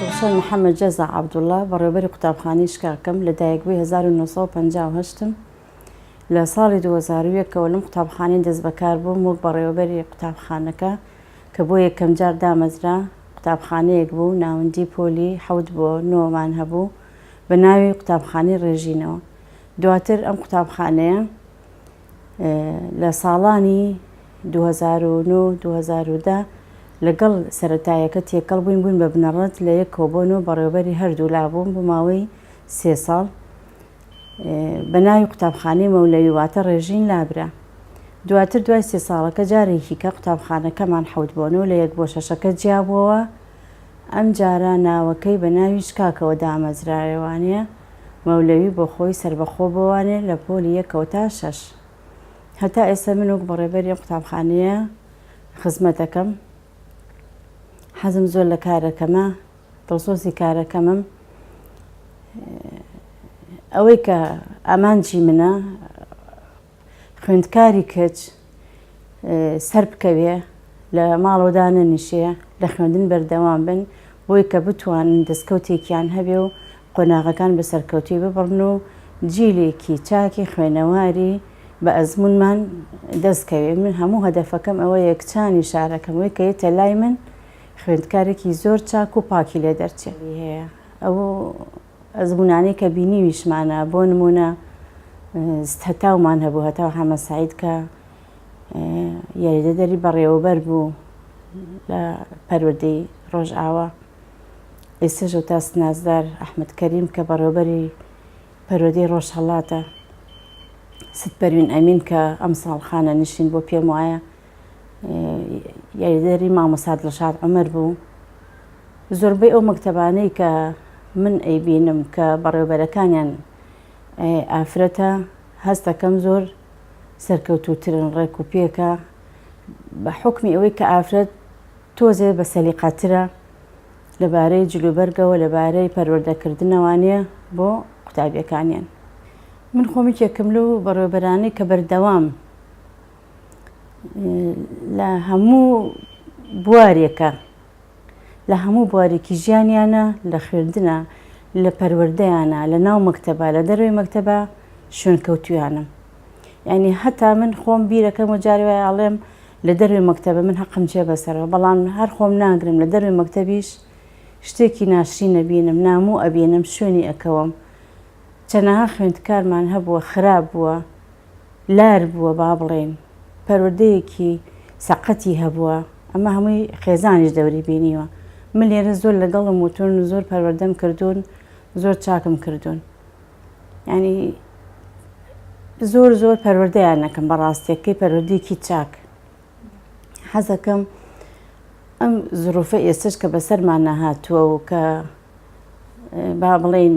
ڕوخسار محەمەد جەزا عەبدوڵا، بەڕێوەبەری قوتابخانەی شکاکەم، لە دایکبووی هەزار و نۆ سەد و پەنجا و هەشت م، لە ساڵی دوو هەزار و یەک ەوە لەم قوتابخانەیە دەستبەکار بووم وەک بەڕێوەبەری قوتابخانەکە کە بۆ یەکەمجار دامەزرا، قوتابخانەیەک بوو ناوەندی پۆلی حەوت بۆ نۆ مان هەبوو بە ناوی قوتابخانەی ڕێژینەوە، دواتر ئەم قوتابخانەیە لە ساڵانی دوو هەزار و نۆ و دوو هەزار و دە لەگەڵ سەرەتایەکە تێکەڵ بووین، بووین بە بنەڕەت لە یەک کۆبۆن و بەڕێوەبەری هەردوولا بووم بۆ ماوەی سێ ساڵ. بە ناوی قوتابخانەی مەولەوی واتە ڕێژین لابرا. دواتر دوای سێ ساڵەکە جارێکی کە قوتابخانەکەمان حەوت بۆ نۆ لە یەک بۆ شەشەکە جیابووەوە، ئەمجارە ناوەکەی بە ناوی شکاکەوە دامەزرایەوانە، مەولەوی بۆ خۆی سەربەخۆ بوانێ لە پۆلی یەکەوە تا شەش. هەتا ئێستا من وەک بەڕێوبەری ئەم قوتابخانەیە خزمەت دەکەم. حەزم زۆر لە کارەکەمە، دڵسۆزی کارەکەمم. ئەوەی کە ئامانجی منە، خوێندکاری کچ سەربکەوێ لە ماڵەوە دانەنیشێ لە خوێندن بەردەوام بن بۆی کە بتوانن دەستکەوتێکیان هەبێ و قۆناغەکان بە سەرکەوتوی ببڕن و جیلێکی چاکی خوێنەواری بە ئەزمونمان دەستکەوێ من هەموو هەدەفەکەم ئەوە یەکچانی شارەکەم وی کە یتە لای من خوێندکارێکی زۆر چاک و پاکی لێ دەرچێ هەیە ئەو ئەزموونانەی کە بینیویشمانە، بۆ نموونە هەتاومان هەبوو، هەتاو حەمە سەعید کە یاریدەدەری بەڕێوەبەر بوو لە پەروەردەی ڕۆژئاوا، ئێستەش ئوتاس نازدار ئەحمەد کەریم کە بەڕێوەبەری پەروەردەی ڕۆژهەڵاتە، ست پەروین ئەمین کە ئەمساڵ خانەنشین بووە پێم وایە، یاریدەری مامۆستا دڵشاد عومەر بوو زۆربەی ئەو مەکتەبانەی کە من ئەیبینم کە بەڕێوبەرەکانیان ئافرەتە هەستەکەم زۆر سەرکەوتوترن ڕێک و پێکە بە حکمی ئەوەی کە ئافرەت تۆزێ بە سەلیقاترە لەبارەی جلوبەرگەوە لەبارەی پەروەردەکردنەوانە بۆ قوتابیەکانیان من خۆمیکێکم لەو بەڕێوبەرانی کە بەردەوام لە هەموو بوارێکە لە هەموو بوارێکی ژیانیانە لە خوێندنە لە پەروەردەیانە لە ناو مەکتەبە لە دەروی مەکتەبە شوێن کەوتویانم ینی هەتا من خۆم بیرەکەم و جاری وای ئاڵێم لە دەروی مەکتەبە من هەقم جێ بەسەرەوە بەڵام هەر خۆم ناگرم لە دەروی مەکتەبیش شتێکی ناشری نەبینم ناموو ئەبینم شوێنی ئەکەوم چەنەها خوێندکارمان هەبووە خراپ بووە لار بووە با بڵێین، پەروەردەیەکی سەقەتی هەبووە، ئەمە هەمووی خێزانیش دەوری بینیوە، من لێرە زۆر لەگەڵم وتوون، زۆر پەروەردەم کردوون، زۆر چاکم کردوون، یانی زۆر زۆر پەروەردەیان ئەکەم بە ڕاستێکەی پەروەردەیەکی چاک. حەزەکەم ئەم زروفە ئێستش کە بەسەرمان نەهاتووە و کە با بڵێین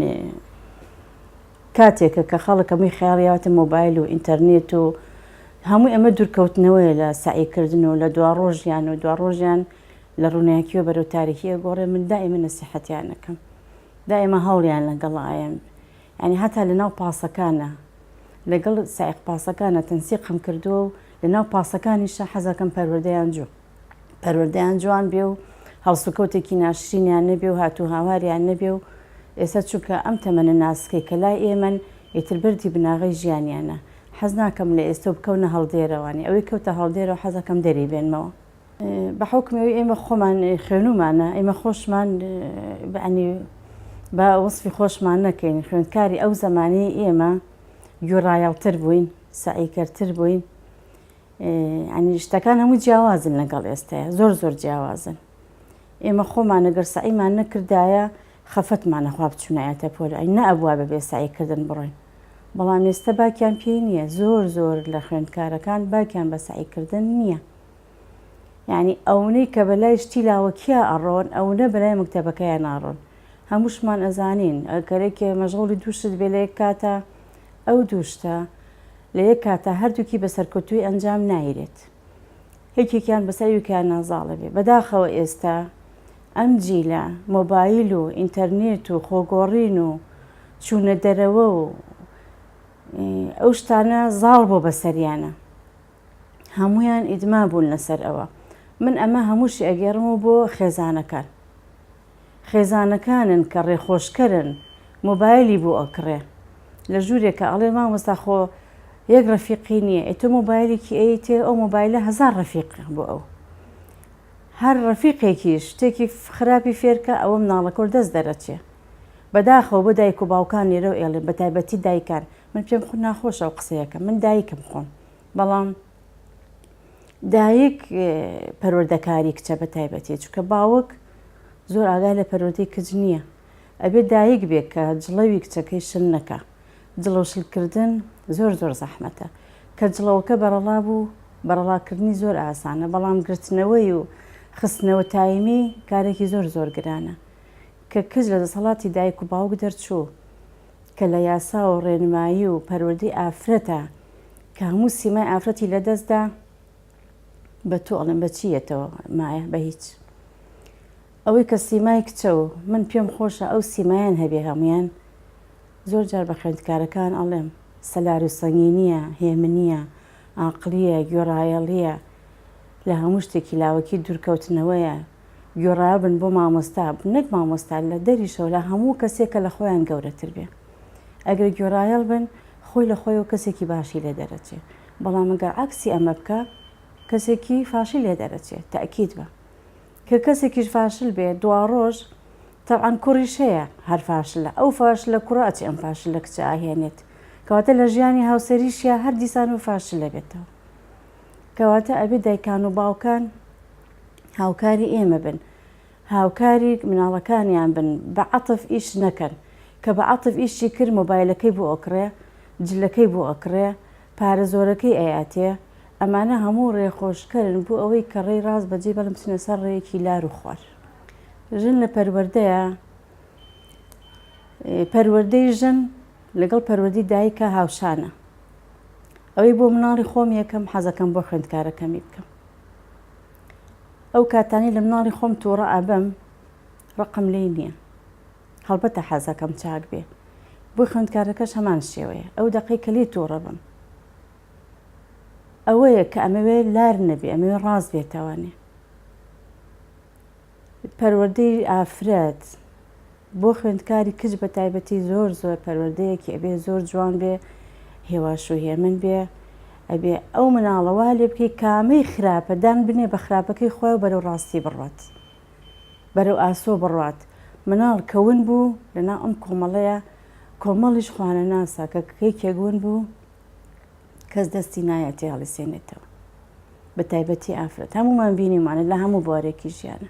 کاتێکە کە خەڵک هەمووی خەیاڵیاوەتە مۆبایل و ئینتەرنێت و هەمووی ئەمە دوورکەوتنەوەیە لە سەعی کردن و لە دواڕۆژیان و دواڕۆژیان لە ڕووناکییەوە بەرەو تاریکی ئەگۆڕێ من دائیمە نەسیحەتیان ئەکەم دائیمە هەوڵیان لەگەڵ ئایەم یانی هەتا لەناو پاسەکانە لەگەڵ سائیق پاسەکانە تەنسیقم کردووە و لەناو پاسەکانیشە حەزەکەم پەروەردەیان جوو پەروەردەیان جوان بێ و هەڵسوکەوتێکی ناشرینیان نەبێ و هات و هاواریان نەبێ و ئێستا چونکە ئەم تەمەنە ناسکەی کە لای ئێمەن ئیتر بەردی بناغەی ژیانیانە حەز ناکەم لە ئێستە و بکەونە هەڵدێرە وانیە ئەوەی کەوتە هەڵدێرەوە حەزەکەم دەری بێنمەوە بە حوکمی ئەوی ئێمە خۆمان خوێنومانە ئێمە خۆشمان بەعنی بە وەصفی خۆشمان نەکەین خوێندکاری ئەو زمانی ئێمە گوێڕایەڵتر بووین سعیکەرتر بووین یانی شتەکان هەموو جیاوازن لەگەڵ ئێستاە زۆر زۆر جیاوازن ئێمە خۆمانە گەر سعیمان نەکردایە خەفەتمانەخوا بچونایەتە پۆل ئەی نەبووە بە بێساییکردن بڕۆین بەڵام ئێستا باکیان پێی نییە زۆر زۆر لە خوێندکارەکان باکیان بە سعیکردن نییە یعنی ئەوەی کە بەلای شتی لاوەکیە ئەڕۆن ئەوە بەلای مکتتەبەکەیان ناڕۆن هەمووشمان ئەزانین ئەگەرێکێ مەژغوڵی دووشت بێ لە یەک کاتە ئەو دوو شتە لە یەک کاتا هەردووکی بە سەرکەوتووی ئەنجام نایرێت یەکێکیان بەسەر یوکیان نازاڵەبێ بەداخەوە ئێستا ئەم جیلە مۆبایل و ئینتەرنێت و خۆگۆڕین و چوونە دەرەوە و ئەو شتانە زاڵ بۆ بەسەریانە هەمویان ئیدما بوون لەسەر ئەوە من ئەمە هەمووشی ئەگەڕم و بۆ خێزانەکان خێزانەکانن کە ڕێخۆشکەرن مۆبایلی بۆ ئەکڕێ لە ژورێکا ئەڵێ مامۆستا خۆ یەک ڕەفیقی نییە ئێ تۆ مۆبایلێکی ئەیتێ ئەو مۆبایلە هەزار ڕەفیق بۆ ئەو هەر ڕەفیقێکیش شتێکی خراپی فێرکە ئەوە مناڵەکە و دەست دەرەچێ بەداخەوە بۆ دایک و باوکان لێرەو ئێڵێ بەتایبەتی دایکان من پێم خو ناخۆشە ئەو قسەیەکە من دایکم خۆم بەڵام دایک پەروەردەکاری کچە بە تایبەتی چکە باوک زۆر ئاگای لە پەرۆدی کچ نییە ئەبێ دایک بێت کە جڵەوی کچەکەی شل نەکە جڵەوشلکردن زۆر زۆر زەحمەتە کە جڵەوەکە بەڕەڵا بوو بەڕەڵاکردنی زۆر ئاسانە بەڵام گرتنەوەی و خستنەوە تایمی کارێکی زۆر زۆر گرانە کە کچ لە دەسەڵاتی دایک و باوک دەرچوو کە لە یاسا و ڕێنمایی و پەروەردەی ئافرەتە کە هەموو سیمای ئافرەتی لە دەست دا، بە تۆ ئەڵێم بە چی یەتەوە مایە؟ بە هیچ. ئەوەی کە سیمای کچە و من پێم خۆشە ئەو سیمایەن هەبێ هەموویان، زۆر جار بە خوێندکارەکان ئەڵێم، سەلار و سەنگینییە، هێمنییە، ئاقڵییە، گوێڕایەڵییە، لە هەموو شتێکی لاوەکی دوورکەوتنەوەیە، گوێڕایەڵ بن بۆ مامۆستا، نەک مامۆستا لە دەریشەوە لە هەموو کەسێک کە لە خۆیان گەورەتر بێ. ئەگەر گوێڕایەڵ بن خۆی لە خۆیەوە کەسێکی باشی لێ دەرەچێ. بەڵام ئەگەر عەکسی ئەمە بکا کەسێکی فاشل لێ دەرەچێ تەئکید بە. کە کەسێکیش فاشل بێ دواڕۆژ تەبعەن کوڕیش هەیە هەر فاشلە ئەو فاشلە کوڕە ئەچێ ئەم فاشلە کچە ئاهێنێت. کەواتە لە ژیانی هاوسەریشیا هەر دیسان و فاشل ئەبێتەوە. کەواتە ئەبێ دایکان و باوکان هاوکاری ئێمە بن هاوکاری مناڵەکانیان بن بە عەتف ئیش نەکەن کە بە عەتف ئیشی کرد مۆبایلەکەی بۆ ئەکڕێ جلەکەی بۆ ئەکڕێ پارە زۆرەکەی ئەیاتێ ئەمانە هەموو ڕێخۆشکەرن بۆ ئەوەی کە ڕێی ڕاست بەجێ بەڵم بچنە سەر ڕێیەکی لار و خوار ژن لە پەروەردەیە پەروەردەی ژن لەگەڵ پەروەردی دایکە هاوشانە ئەوەی بۆ مناڵی خۆم یەکەم حەزەکەم بۆ خوێندکارەکەمی بکەم ئەو کاتانەی لە مناڵی خۆم تووڕە ئەبم ڕقم لێی نییە هەڵبەتە حەزەکەم چاک بێ بۆی خوێندکارەکەش هەمان شێوەیە ئەو دەقەی کە لێی تووڕە بم ئەوەیە کە ئەمەوێ لار نەبێ ئەمەوێ ڕاز بێتەوانێ پەروەردەی ئافرەت بۆ خوێندکاری کچ بە تایبەتی زۆر زۆر پەروەردەیەکی ئەبێ زۆر جوان بێ هێواش و هێمن بێ ئەبێ ئەو مناڵە وا لێ بکەی کامەی خراپە دان بنێ بە خراپەکەی خۆی و بەرەو ڕاستی بڕوات بەرەو ئاسۆ بڕوات مناڵ کە ون بوو لەناو ئەم کۆمەڵەیە کۆمەڵیش خوانەناسە کە کەیکێک ون بوو کەس دەستی نایە تێهەڵیسێنێتەوە بە تایبەتی ئافرەت هەموومان بینیمانە لە هەموو بوارێکی ژیانە